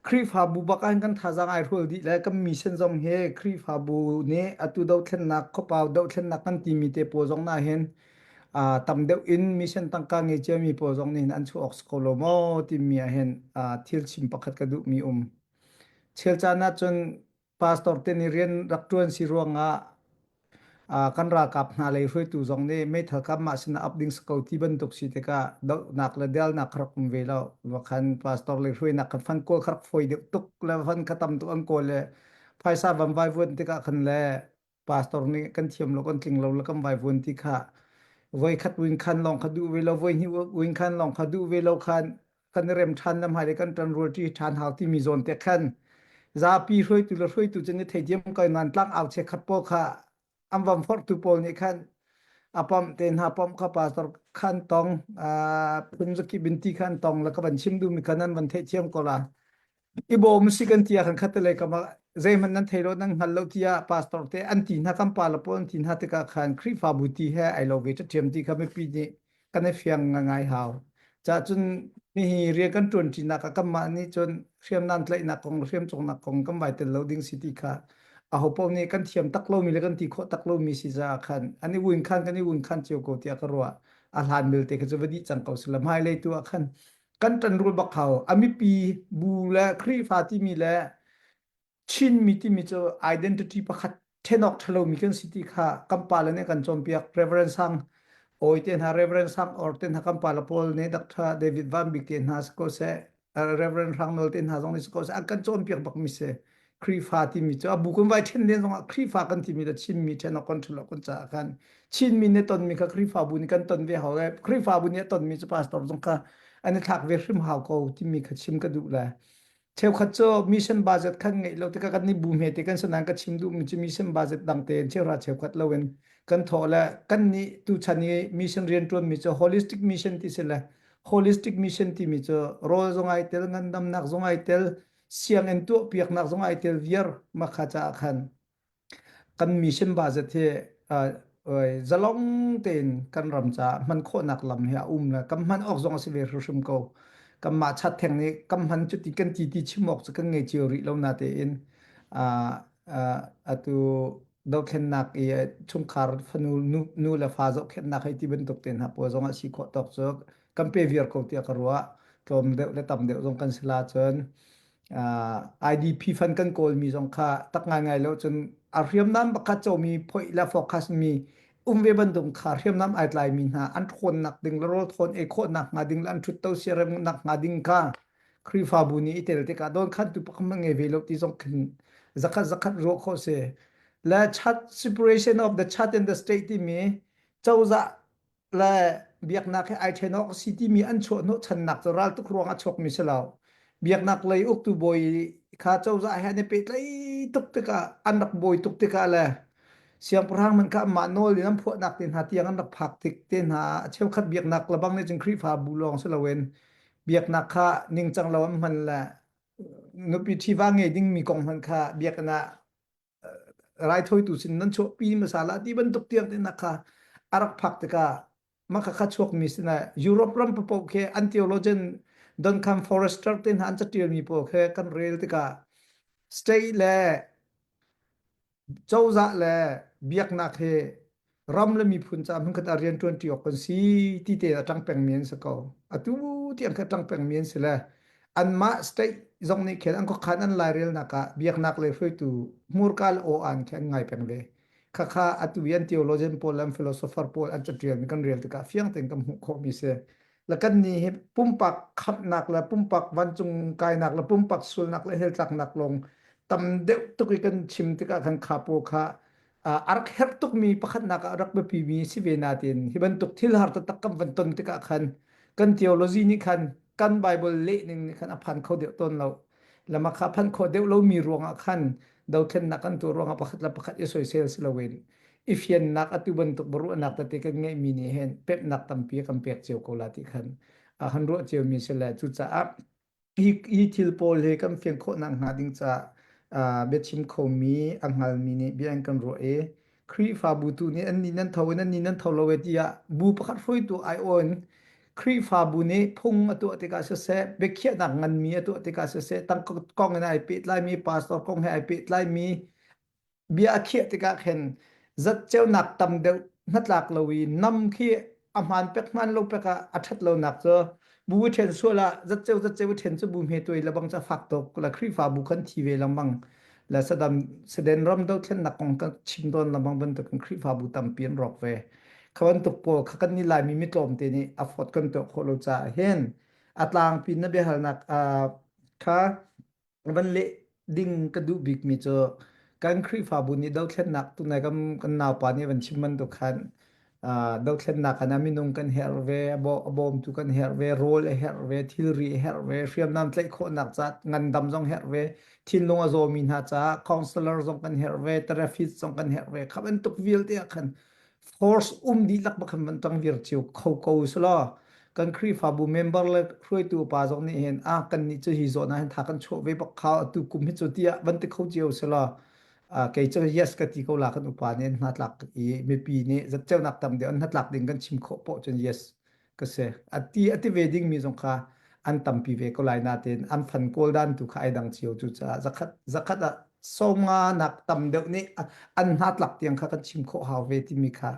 Khrihfabu bak ah hin kan thazaang ai hrual dih le kan mission zong hi Khrihfabu nih atu dothlennak, khuapau dothlennak kan timi te pawl zong na hin aa tam deuh in mission tangka ngei ciami pawl zong nih hin an chuah awk si ko lo maw timi ah hin thil chim pakhat ka duhmi um. Chial caan ahcun pastor te ni rian rak tuan si ruangah kan ralkap hna lei hruaitu zong nih meithal kam mah sinah up ding ko ti bantuk si tikah dohnak le delnak kharak um ve lo wakhan pastor lei hruainak kan fan kawl kharak foi deuh tuk le fan khatam tuk an kawl le phaisa van vai vuan tikah khan le pastor nih kan thiam lo kan tling lo la kan vai vuan ti kha voi khat win khan long kha du ve lo voi hni win khan long kha du ve lo khan kan rem than nam hai le kan tan rul ti than hau ti mi zon te khan zapi hruaitu le hruaitu chen ni theidiam kai nan tlang au che khat po kha am vam phor tu pol ni khan apam te na pam kha pastor khan tong a phun zaki binti khan tong la ka ban chim du mi kanan van the chiam kola i bawm si kan tia kan khatte lei kama zeihman nan thei lo nan hngal lo tia pastor te an ti hna kan pa lapo an ti hna tika khan khrifa bu ti he ai lo ve ta thiam ti kha mi pi ni kan fiang ngai ngai hau cha chun mi hi ria kan tuan chi na ka kam ma ni chun hriam nan tlai na kong hriam chong na kong kan vai tel lo ding si ti kha a ho pau ni kan thiam tak lo mi le kan ti kho tak lo mi si za khan ani win khan kan i win khan chiu ko tia ka ro a hlan mil te ka chu vadi chang ko silam hai le tu a khan kan tanrul bakhau amipi bu le Khrihfa timi le Chinmi timi cu identity pakhat thenok thalomi kan si ti kha kan pa le nih kan cawnpiak Reverend Sang awi te hna Reverend Sang or te hna kan pa la Paul ne Dr. David Van Bik te hna si ko se Reverend Hrang Nawl te hna zong nih si ko se an kan cawnpiak bak mi se Krifa timi cu a bu kan vai ṭhen den zongah Krifa kan timi le Chinmi ṭhen a control a kun caah khan Chinmi nih tonmi kha Krifa bu nih kan ton ve hau le Krifa bu nih a tonmi cu pastor zong kha an i thlak ve hrim hau ko timi kha chim ka duh le cheukhat cu mission budget khan ngeih lo tikah kan i bu hme te kan sanan ka chim duhmi cu mission budget dang tein cheuhra cheukhat lo in kan thawh le kan nih tuchan i mission rian ṭuanmi cu holistic mission ti si le holistic mission timi cu rawl zong ai tel ngandamnak zong ai tel sianginn tuahpiaknak zong ai tel viar makha caah khan kan mission ba zat hi zalong tein kan ram caah hman khawhnak lam hi a um le kan hman awk zong a si ve hrimhrim ko kan mah chat theng nih kan hman cu ti kan ti ti chim awk cu kan ngei cio rih lo na te in atu dothlennak i chungkhar fanu nu le fa zok khennak hei ti bantuk ten hapo zong a si khawh tok cu kan pe viar ko tiah ka ruah tlawm deuh le tam deuh zong kan si la cun IDP fan kan kawlmi zong kha tak ngaingai lo cun a hriamnam pakhat comi phoih le focus mi um ve bandung kha hriamnam ai tlai mi hna an ṭhawn nak ding le rawl thawn ei khawh nak hnga ding le an ṭhut to siarem nak hnga ding ka Khrihfabu nih i tel tikah don khan tu pakam ngai ve lo ti zong khin zakhat zakhat ruah kho se la chat separation of the chat and the state timi cozah le biaknak he ai ṭhen awk a si timi an chuahhnawhchannak cu raltuk ruang a chuakmi si lo. Biaknak lei uktu bawi kha cozah he an i pehtlaih tuk tikah an rak bawi tuk tikah le siangpahrang man kha amah nawl in an phuahnak te hna tiang an rak phak tik te hna a cheukhat biaknak labang nih cun Khrihfabu lawng si loin biaknak kha ningcang lo an hman le nupi ṭhiva ngei dingmi kong hmanh kha biakinn ah raithawitu sin nan chuahpi masala ti bantuk tiang te nak kha arak phak tika maka kha chuak mi sina Europe ram papo khe an theologian Duncan Forrester te hna an catial mi po khe kan rel tika state le cozah le biaknak he ram le miphun ca hmanh khat a rian tuanti awk kan si ti te a tang peng mi an si ko atu ti an khat tang peng mi an si le an mah state zong nih khen an ko khan an lai rel nak ah biaknak le hruaitu murka le o an khen ngai peng le khakha atu yan theologian paul an philosopher paul an catial mi kan rel tikah fiang ten kan hmuh kho mi se la kan ni hi pumpak khamnak la pumpak vancung kainak la pumpak sulnak le heltlak nak long tam deuh tuk i kan chim tikah kan khapo kha uh, ark herh tukmi pakhatnak ah rak biapimi si ve natin hi bantuk thil har taktak kan van ton tikah khan kan theology nih khan kan bible lehning nih khan a phan kho deuh ton lo lama kha phan kho deuh lomi ruangah khan dothlennak kan tu ruangah pakhat la pakhat i soisel si loin i fiannak atu bantuk baruahnak tete kan ngeihmi nih hen pepnak tampi kan pek cio ko la ti khan a han ruah cio mi si le cucaah Hi, hi thil pawl hi kan fian khawhnak hnga ding caah uh, biachim khomi a hngalmi nih bia an kan ruah i Khrihfabu tu nih an ni nan tho in an ni nan tho lo e tiah bu pakhat hruaitu aiawh in Khrihfabu nih phung a tuah tikah siseh biakhiahnak nganmi a tuah tikah siseh tangkong in ai pehtlaimi pastor kong he ai pehtlaimi bia a khiah tikah khin zat ceunak tam deuh hnatlak lo i nam khi a hmaan pek hmaan lo pek ah a ṭhat lonak cu bu ṭhen sual ah zatceu zatceu i ṭhen cu bu hme tuai lebang ca fak tuk la Khrihfabu kan thi ve lengmang la sadam saden ram do thlennak kong kan chim don lengmang bantukin Khrihfabu tampi an rawk ve kha bantuk pawl kha kan ni laimi mitlawm te nih a phot kan tuah khawh lo caah hin a tlangpi na biahalnak kha van leh ding ka duh bikmi cu kan Khrihfabu nih dothlennak tunai kan kan naupa nih van chim bantuk khan uh, dothlennak khan ah minung kan herh ve abawmtu kan herh ve rawl a herh ve thilri a herh ve hriamnam tlaih khawhnak ca ngandam zong herh ve thinlung a zawmi hna ca counselor zong kan herh ve therapist zong kan herh ve kha bantuk vialte ah khan force um dihlak ba khan van tang vir chiu kho ko sula kan Khrihfabu member le hruaitu pa zong nih hin a kan ni chu hi zawna hin tha kan chuah ve bak kha atu kum hi chu tia van te kho chiu sula kei chu yes ka ti ko la kan upa nih hna tlak i mipi nih zat cheunak tam de an hna tlak ding kan chim kho po chun yes ka se ati ati ve ding mi zong kha an tampi ve ko lai na tein an fan kawl dan tu kha ai dang cio cu caah zakhat zakhat ah sawma nak tam deuh nih an hna tlak tiang kha kan chim khawh hau ve timi kha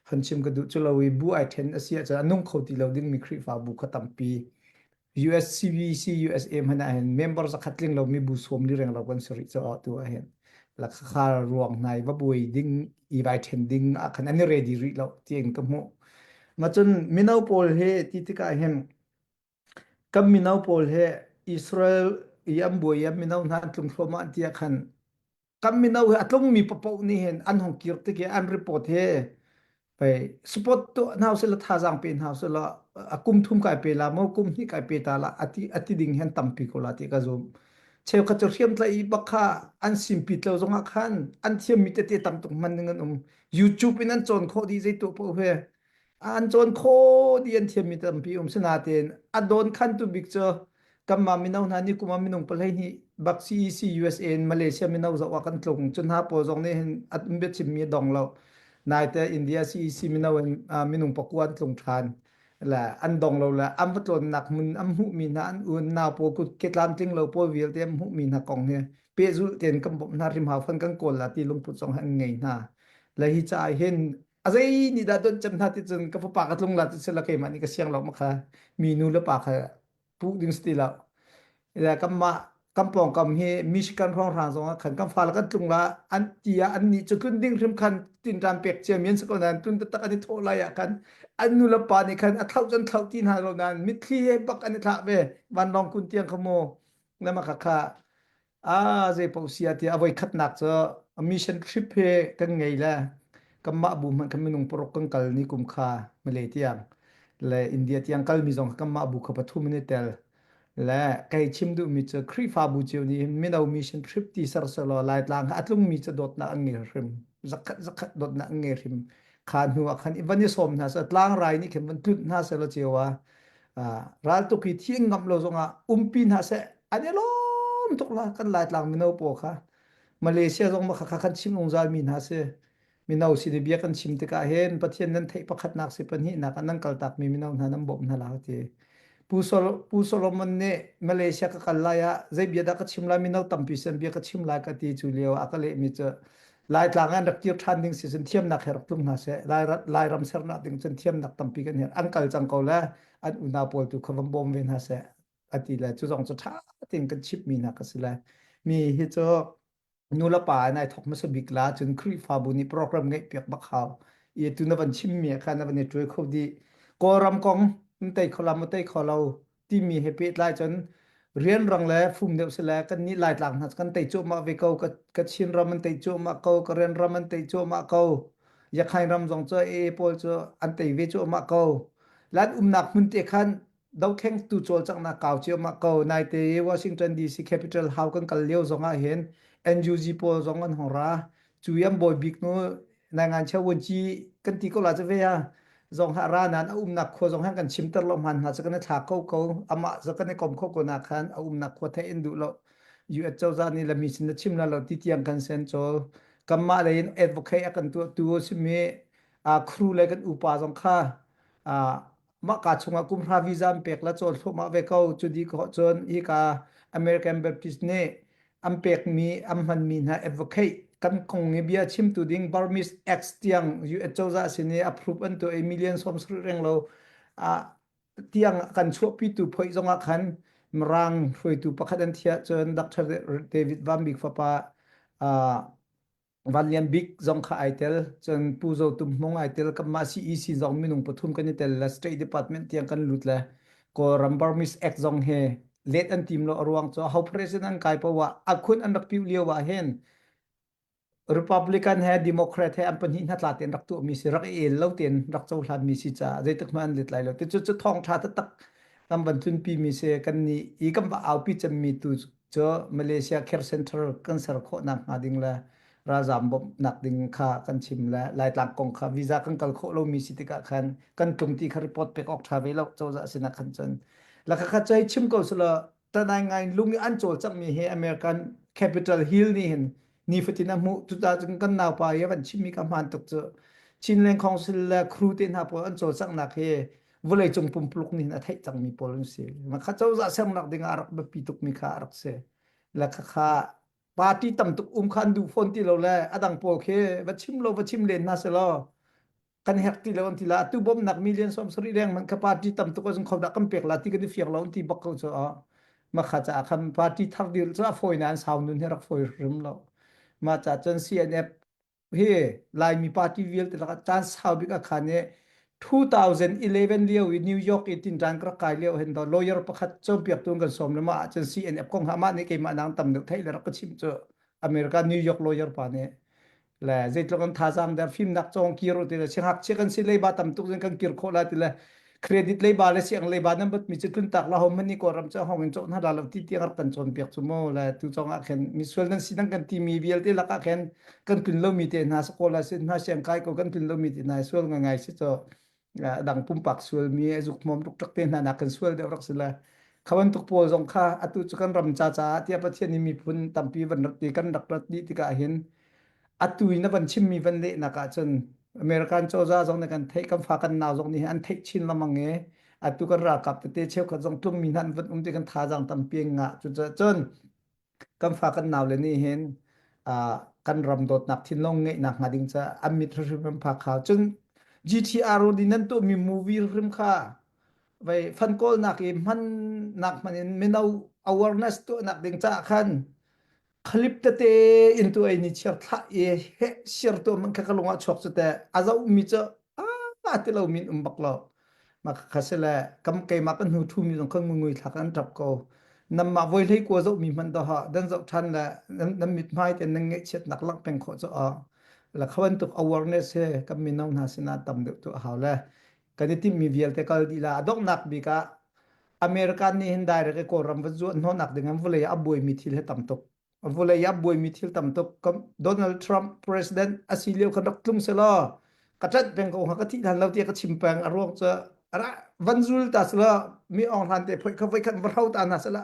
han chim ka duh cu lo i bu ai then a si ah nung kho ti lo ding mi khrihfa bu kha tampi USCVC USA hman ah hin member zakhat tling lomi bu sawm li reng lo kan sari cho ah tu ah hin la kha ruang nai va buai ding i vai then ding a khan ani ready ri lo tiang ka mu ma chun mino pawl he ti tika hin kam mino pawl he Israel i am buai am mino hna tlung thloma tia khan kan mino he a tlungmi papoh nih hin an hong kir tik i an report hi pei support tu hna usih la thazaang pe hna usih la a kum thum kai pe la mo kum hnih kai pe ta la ati ati ding hen tampi ko la ti ka zum cheukhat cu hriam tlai i bak kha an simpi tlo zongah khan an thiammi tete tam tuk man ding an um youtube in an cawn khawh dih zei tu poh he an cawn kho ti an thiammi tampi um sinatein a dawn khantu bik cu kanmah mino hna nih kuma minung palei nih bak CEC USA in Malaysia mino zoh a kan tlung cun hna pawl zong nih hin at umbet chimmi a dong lo naite India CEC mino in minung pakua an tlung ṭhan le an dong lo le an va tlawnnak mun an hmuhmi hna an un nau pawl kut ke tlamtling lo pawl vialte an hmuhmi hna kong hi pehzulh tein kan bawmh hna rim hau fan kan kawl la ti lungput zong an ngei hna le hi caah hin A zei nih dah donh cem hna ti cun ka fapa ka tlung la ti sila keimah nih ka siang lo ma kha mi nu le pa kha puh ding si ti lo. Kanmah kan pawngkam hi Michigan hrawnghrang zongah khan kan fale kan tlung la an ti ah an nih cu kun ding hrim khan tinṭan pek cia mian si ko nain tun taktak an i thawh lai ah khan an nu le pa nih khan a thlauh cun thlauh ti hna lo nain mitthli he bak an i thlah ve vanlawng kun tiang kha mu. Na ma khakha Ah, zeipaoh si ah tiah a voikhatnak cu a mission trip hi kan ngei le kanmah bu hmanh khan minung paruk kan kal ni kum kha Malay tiang le India tiang kalmi zong kha kanmah bu kha pathum in i tel. Le kai chim duhmi cu Khrihfabu cio nih hin mino mission trip ti sersehlaw Laitlang ah a tlungmi cu dawtnak an ngei hrim. Zakhat zakhat dawtnak an ngei hrim. Kha hnu ah khan i van i sawm hna seh, tlangrai nih khin van tlunh hna sehlaw cioa raltuk hi thi ngam lo zongah umpi hna seh an i lawm tuk la kan laitlang mino paw kha malaysia zong mah kha kan chim ungzal mi hna si mino sin i bia kan chim tikah hin pathian nan theih pakhatnak si pahnihnak ah nan kaltak mi mino hna nan bawmh hna la ti pu pu solomon nih malaysia ka kal lai ah zei bia dah ka chim lai mino tampi sen bia ka chim lai ka ti cu lio a ka leh mi cu Laitlang an rak kir ṭhan ding si cun thiamnak he rak tlung hna seh. Lairam sernak ding cun thiamnak tampi kan her. An kal cang ko le an unau pawl tu kha van bawm ve hna seh. A ti le cu zong cu ṭha tein kan chimhmi hna ka si le. Mi hi cu nulepa in ai thok hmasa bik la cun Khrihfabu nih program ngeih piak bak hau. Ie tu na van chimmi kha na van i ṭuai kho dih. Kawlram kong, in tei kho la, mu tei kho lo. timi he pehtlai cun rian rang le fum deuh si le kan nih lai tlak hna kan tei cuahmah ve ko ka chin ram an tei cuahmah ko ka rian ram an tei cuahmah ko yakhain ram zong cu e pawl cu an tei ve cuahmah ko lan umnak hmun te khan dokheng tu col chang na kaw cio ma ko nai te Washington DC Capital House kan kal lio zong ah hin NUG pawl zong an hong ra cu yam boy bik nu nai ngan cha wan chi kan ti ko la cha ve ya zong ha ra nan a um nak khua zong ha kan chim ter lo man hna cha kan thla ko ko ama za kan kom kho ko na khan a um nak khua the in du lo US cho za ni lami sin na chim la lo ti tiang kan sen cho kamma le in advocate akan tu tu simi a crew le kan upa zong kha a maka chungah kumhra visa an pek la chaw thloma ve ko cu di ko chun i ka American Baptist nih an pekmi an hmanmi hna advocate kan kong i bia chimtu ding Burmese Acts tiang US cozah sin i approve an to i million som sri reng lo a tiang kan chuahpi tu phoi zongah khan Mirang hruaitu pakhat an thia chun Dr. David Van Bik fapa Van Lian Bik zong kha ai tel. Cun Pu Zo Tum Hmung ai tel. Kan mah CEC zong minung pathum kan i tel le State Department tiang kan lut le Kawlram Burmese Act zong he let an tim lo a ruang cu ho president an kai pa wa a khun an rak piu lio ah hin Republican he Democrat he an pahnih hna tla ten rak tu mi si rak i el lo ten rak co hlan mi si ca zei tak ma an let lai lo ti cu cu thong tha ta tak tam ban tun pi mi se kan ni i kan ba au pi cem mi tu cu Malaysia Care Center kan ser khawhnak hnga ding le ralzaam bawmhnak ding kha kan chim le Laitlang kong kha visa kan kal khawh lomi si tikah khan kan tlung ti kha report pek awk ṭha ve lo cozah sinah khan cun lakha kha cai chim ko sula tanai ngai lung i an cawl cangmi hi American Capital Hill nih hin ni fatin a hmuh tuta cun kan naupa i avan chimmi ka hmaan tuk cu Chinland Council le crew te hna pawl an cawlcanghnak hi vawlei cung pumpuluk nih a theih cangmi pawl an si makha cozah sernak ding ah a rak biapi tukmi kha a rak si le khakha party tam tuk um khan duh fawn ti lo le a dang pawl khi va chim lo va chim len hna selaw kan hek ti lo an ti la tu bawmnak million som sari reng man ka party tam tuk azung kho da kan pek la ti kan fiang lo ti bak ko cho ma kha cha kham party thar dil cha foi nan sau nun he rak foi rim lo ma cha chan CNF hi lai mi party vial te la chan sau bik akhane 2011 lio i New York i tin ran kra kai lio hen do lawyer pakhat chompiak tun kan som lama chan CNF kong ha ma ne ke ma nang tam duk thai le rak chim chu America New York lawyer pa ne le zeitluk an thazaang der fimnak cong kir u ti le sing hak chiah kan si leiba tam tuk zin kan kir khawh la ti le credit leiba le siang leiba nan bat mi chu tlun tak la ho mani ko ram cha hong in chok na la lo ti tiang ap kan chon piak chu mo le tu chong a khen misual nan si nan kan ti mi vial te laka khen kan tun lo mi te na so ko la sin na siang kai ko kan tun lo mi te na sual ngai ngai si cho dang pumpak sual mi zuk hmawm tuk tak te hna nak kan sual deuh rak si la khawan tuk pawl zong kha atu cu kan ram cha cha tia pathian ni miphun tampi van rat ti kan rak rat di tikah hin atu in van chim mi van le nak ah cun American choza zong ne kan thei kan fa kan naw zong ni an theih chin lamang e atu kan ra kap te cheu khat zong tlung mi nan van um ti kan tha jang tampi nga chu cun kan fa kan nau le nih hin uh, kan ram dawtnak thinlong ngeihnak hnga ding ca an mit hrimhrim an phak kha cun GTR udi nan tu mi movie hrim kha vai fan kawl nak i hman nak man in mino awareness tu nak ding ca khan clip tete in tu ai ni chiar thla e he share tu man kha ka lunga chok chu te azo mi cha a ti lo min um bak lo ma kha se le kam keima kan hnu thu mi zong kan ngui thak an tap ko nam ma voi hlei kwa zo mi man to ha dan zo than le nam mit mai te nan nge chiat nak lang peng kho cho a la khawan tuk awareness he kam min nong na sina tam deuh tu hau le kan ti mi vial te kal di la adok nak bi ka american ni hin direct ko ram va zuan no nak ding am vule a boi mi thil he tam tuk vawlei ah buaimi thil tam tuk Donald Trump president asi lio ka rak tlung se law ka tlanh peng ko ha ka thi than lo tiah ka chim peng a ruang cu ara van zul ta sela mi ong hlan te phoi kha voi khat va hau ta na sela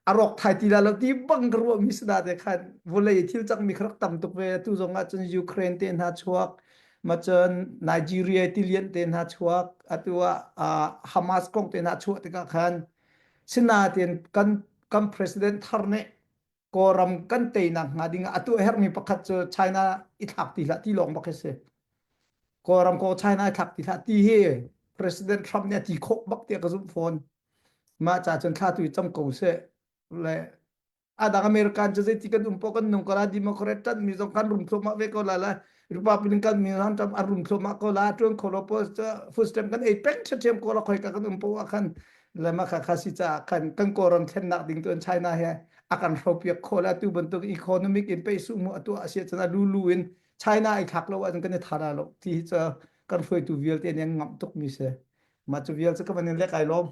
a rawk thai ti la lo ti bang ka ruwa mi sada te khan vawlei thil cak mi kharak tam tuk ve tu zong ah cun Ukraine te hna chuak ma cun Nigeria ti lian te hna chuak atu ah Hamas kong te hna chuah tikah khan sina ten kan kan president thar nih kawlram kan teinak hnga ding ah atu hermi pakhat cu China i thlak ti hlah ti lawng bak hi si kawlram ko China i thlak ti hlah ti hi president Trump nih a ti khok bak tiah ka zum fawn ma cha cun thla tu cham ko se le adang American cu zeiti kan um po kan nung kala democrat tan mi zong kan rum thuma ve ko la la rupa piling kan mi ran tam arun thlo ma ko la tuan kholo po footstep kan ei peng che chem ko la khoi ka kan um po akhan lama kha kha si cha khan kan koran thlen nak ding tuan china he akan hropiak khola tu bantuk economic in pe su mu atu asia chana lulu in china ai khak lo an kan thara lo ti cha kan foi tu vial te nang ngam tuk mi se ma chu vial cha ka manin le kai lom